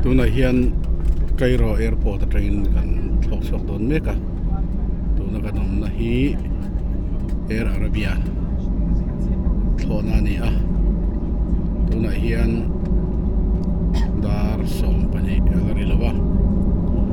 tunah hian Kairo airport atangin kan thlawk chhuak dawn mek a tuna kan awmna hi Air Arabia thlawhna a ni a tunah hian dar sawm pahnih a la ri lo a.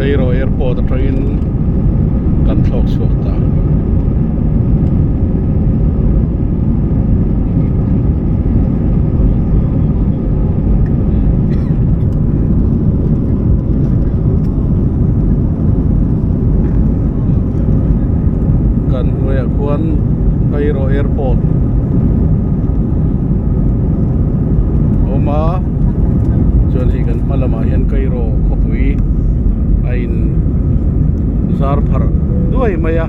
Cairo airport atangin kan thlawk chhuak ta kan hnuaiah khuan cairo airport a awm a chuan hei kan hma lamah hian cairo khawpui a in zar pharh duai mai a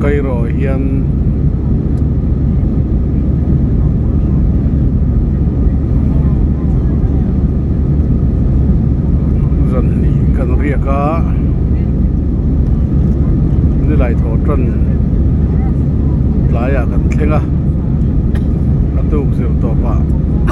Cairo ah hian zanhnih kan riak a nilai tawh tan tlai ah kan thleng a a tuk zir tawp ah--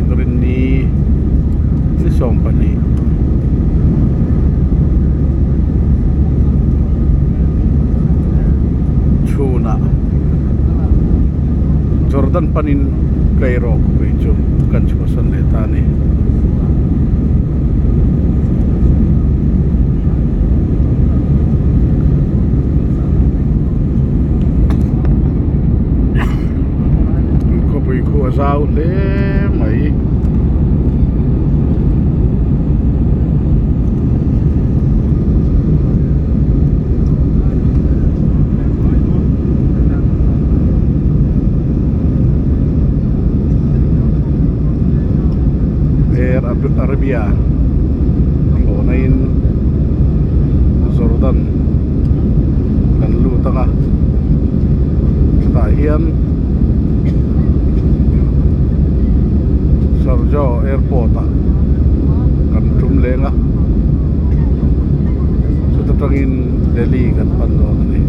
inrinni chi sawm pahnih chhunah jordan panin tleiro khawpui chu kan chhuahsan leh ta ni. puikhua zau hle mai air arabia hlawhna in jordan kan lut ang a chutah hian-- Hlarjo airport ah kan tum leng a chuta tangin Delhi kan pan dawn a ni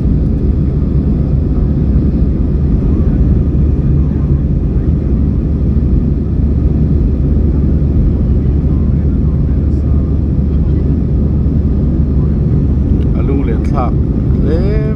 a lung leh thlak hle.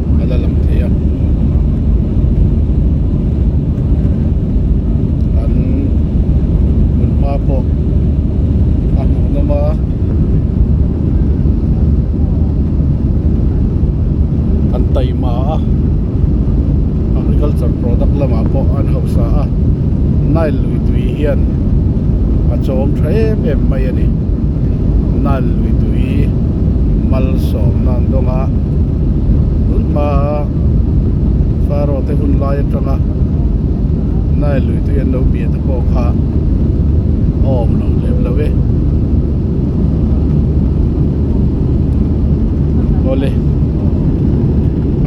a la lang thei a an hun hma pawh a hmuh hlawm a an taih mah a agriculture product lamah pawh an hausa a nile lui tui hian a chawm tha em em mai a ni nile lui tui mal sawmna ang dawnga. tun hma faraw te hun lai atanga nile lui te an lo bia te pawh kha a awm lo lem lo e awle